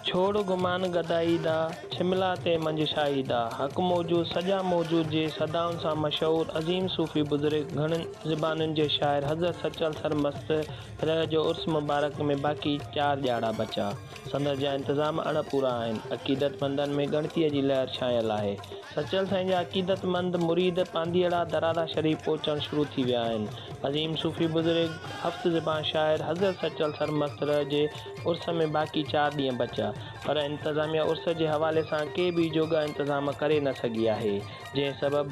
ڇوڙ گمان گدائي دا، ڇملا تي منجشائي دا، حق موجود سجا موجود جي صدائن سان مشهور عظيم صوفي بزرگ گهڻين زبانن جي شاعر حضرت سچل سرمست رح جو عرس مبارڪ ۾ باقي چار ڄاڙا بچا. سندس جا انتظام اڻ پورا آهن. عقيدتمندن ۾ ڳڻتيء جي لهر ڇانيل آهي. سچل سائين جا عقيدتمند مريد پانڌيئڙا درادا شريف پهچڻ شروع ٿي ويا آهن. عظيم صوفي بزرگ، هفت زبان شاعر حضرت سچل سرمست رح جي عرس ۾ باقي چار ڏينهن بچيا، پر انتظاميه عرس جي حوالي سان ڪي به جوڳا انتظام ڪري نه سگهي آهي، جنهن سبب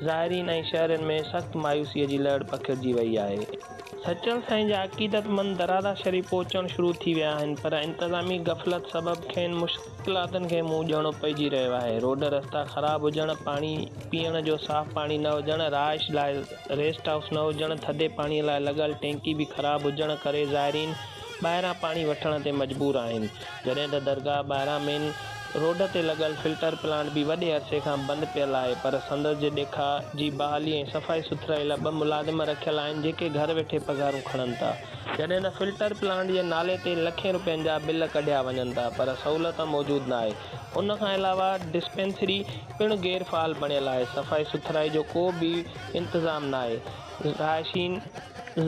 زائرين ۽ شهرين ۾ سخت مايوسيء جي لهڙ پکڙجي وئي آهي. سچل سائين جا عقيدتمند درارا شريف پهچڻ شروع ٿي ويا آهن پر انتظامي غفلت سبب کين مشڪلاتن کي منهن ڏيڻو پئجي رهيو آهي. روڊ رستا خراب هجڻ، پاڻي پيئڻ جو صاف پاڻي نه هجڻ، رهائش لاء ريسٽ هائوس نه هجڻ، ٿڌي پاڻيء لاء لڳل ٽينڪي به خراب هجڻ ڪري زائرين، ٻاهران پاڻي وٺڻ تي مجبور آهن، جڏهن ته درگاهه ٻاهران مين روڊ تي لڳل فلٽر پلانٽ به وڏي عرصي کان بند پيل آهي پر سندس جي ڏيکاء جي بحالي ۽ صفائي سٿرائي لاء ٻه ملازم رکيل آهن جيڪي گهر ويٺي پگهارون کڻن ٿا، جڏهن ته فلٽر پلانٽ جي نالي تي لکين روپين جا بل ڪڍيا وڃن ٿا پر سهولت موجود ناهي، ان کان علاوه ڊسپينسري پڻ غير فعال بڻيل آهي، صفائي سٿرائي جو ڪو به انتظام ناهي. رهائشين،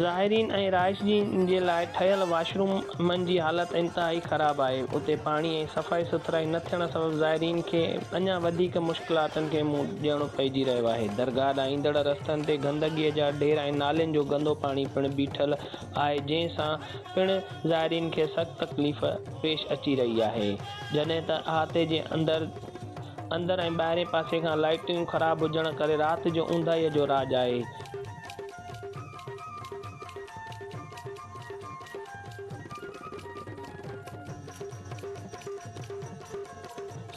زائرين ۽ رهائشين جي لاء ٺهيل واشرومن جي حالت انتهائي خراب آهي، اتي پاڻي ۽ صفائي سٿرائي نه ٿيڻ سبب زائرين کي اڃا وڌيڪ مشڪلاتن کي منهن ڏيڻو پئجي رهيو آهي، درگاهه ڏانهن ايندڙ رستن تي گندگيء جا ڍير ۽ نالين جو گندو پاڻي پڻ بيٺل آهي، جنهن سان پڻ زائرين کي سخت تڪليف پيش اچي رهي آهي، جڏهن ته احاطي جي اندر. اندر ۽ ٻاهرين پاسي کان لائيٽون خراب هجڻ ڪري رات جو اونداهيء جو راڄ آهي.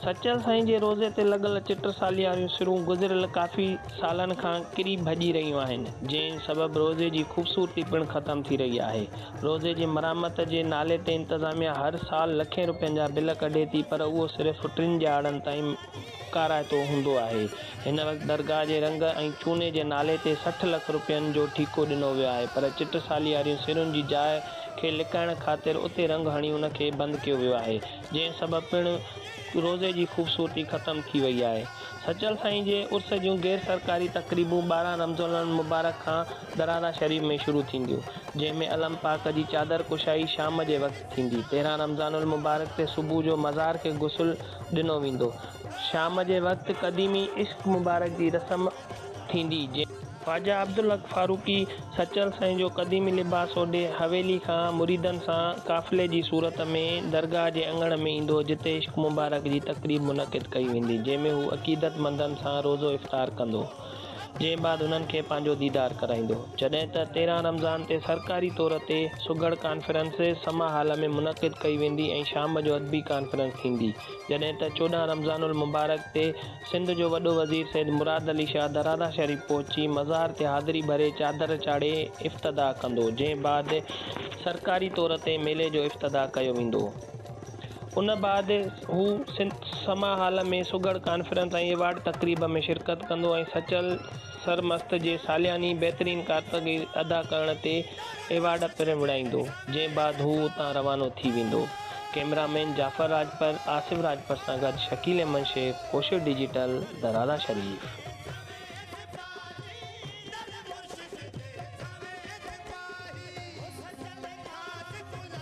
سچل سائين جي روضي تي لڳل چٽ سالياريون سرون گذريل ڪافي سالن کان ڪري ڀڄي رهيون آهن، جنهن سبب روضي جي خوبصورتي پڻ ختم ٿي رهي آهي. روضي جي مرمت جي نالي تي انتظاميا هر سال لکين روپين جا بل ڪڍي ٿي پر اهو صرف ٽن ڄاڙن تائين ڪارائتو هوندو آهي. هن وقت درگاهه جي رنگ ۽ چوني جي نالي تي سٺ لک روپين جو ٺيڪو ڏنو ويو آهي پر چٽ سالي واريون سرون جي جاء کي لڪائڻ خاطر اتي رنگ هڻي ان کي بند ڪيو ويو آهي جنهن سبب پڻ روضي جي خوبصورتي ختم ٿي وئي آهي. سچل سائين جي عرس جون غير سرڪاري تقريبون ٻارهن رمضان المبارڪ کان درارا شريف ۾ شروع ٿينديون، جنهن ۾ علم پاڪ جي چادر ڪشائي شام جي وقت ٿيندي، تيرهن رمضان المبارڪ تي صبح جو مزار کي غسل ڏنو ويندو، شام جي وقت قديمي عشق مبارڪ جي رسم ٿيندي، جنهن. خواجه عبدالحق فاروقي سچل سائين جو قديمي لباس اوڍي حويلي کان مريدن سان قافلي جي صورت ۾ درگاهه جي اڱڻ ۾ ايندو، جتي عشق مبارڪ جي تقريب منعقد ڪئي ويندي، جنهن ۾ هو عقيدت مندن سان روزو افطار ڪندو. جنهن بعد هنن کي پنهنجو ديدار ڪرائيندو. جڏهن ته تيرهن رمضان تي سرڪاري طور تي سگهڙ ڪانفرنس سما هال ۾ منعقد ڪئي ويندي ۽ شام جو ادبي ڪانفرنس ٿيندي جڏهن ته چوڏهن رمضان المبارڪ تي سنڌ جو وڏو وزير سيد مراد علي شاهه درادا شريف پهچي مزار تي حاضري ڀري چادر چاڙهي افتتاح ڪندو جنهن بعد سرڪاري طور تي ميلي جو افتتاح ڪيو ويندو. ان بعد هو سنڌ سما هال ۾ سگهڙ ڪانفرنس ۽ ايوارڊ تقريب ۾ شرڪت ڪندو ۽ سچل سرمست جي سالياني بهترين ڪارڪردگي ادا ڪرڻ تي ايوارڊ پڻ وڙهائيندو، جنهن بعد هو اتان روانو ٿي ويندو. ڪئميرا مين جعفر راڄپر، آصف راڄپر سان گڏ شڪيل احمد شيخ، ڪوشش ڊجيٽل، درارا شريف.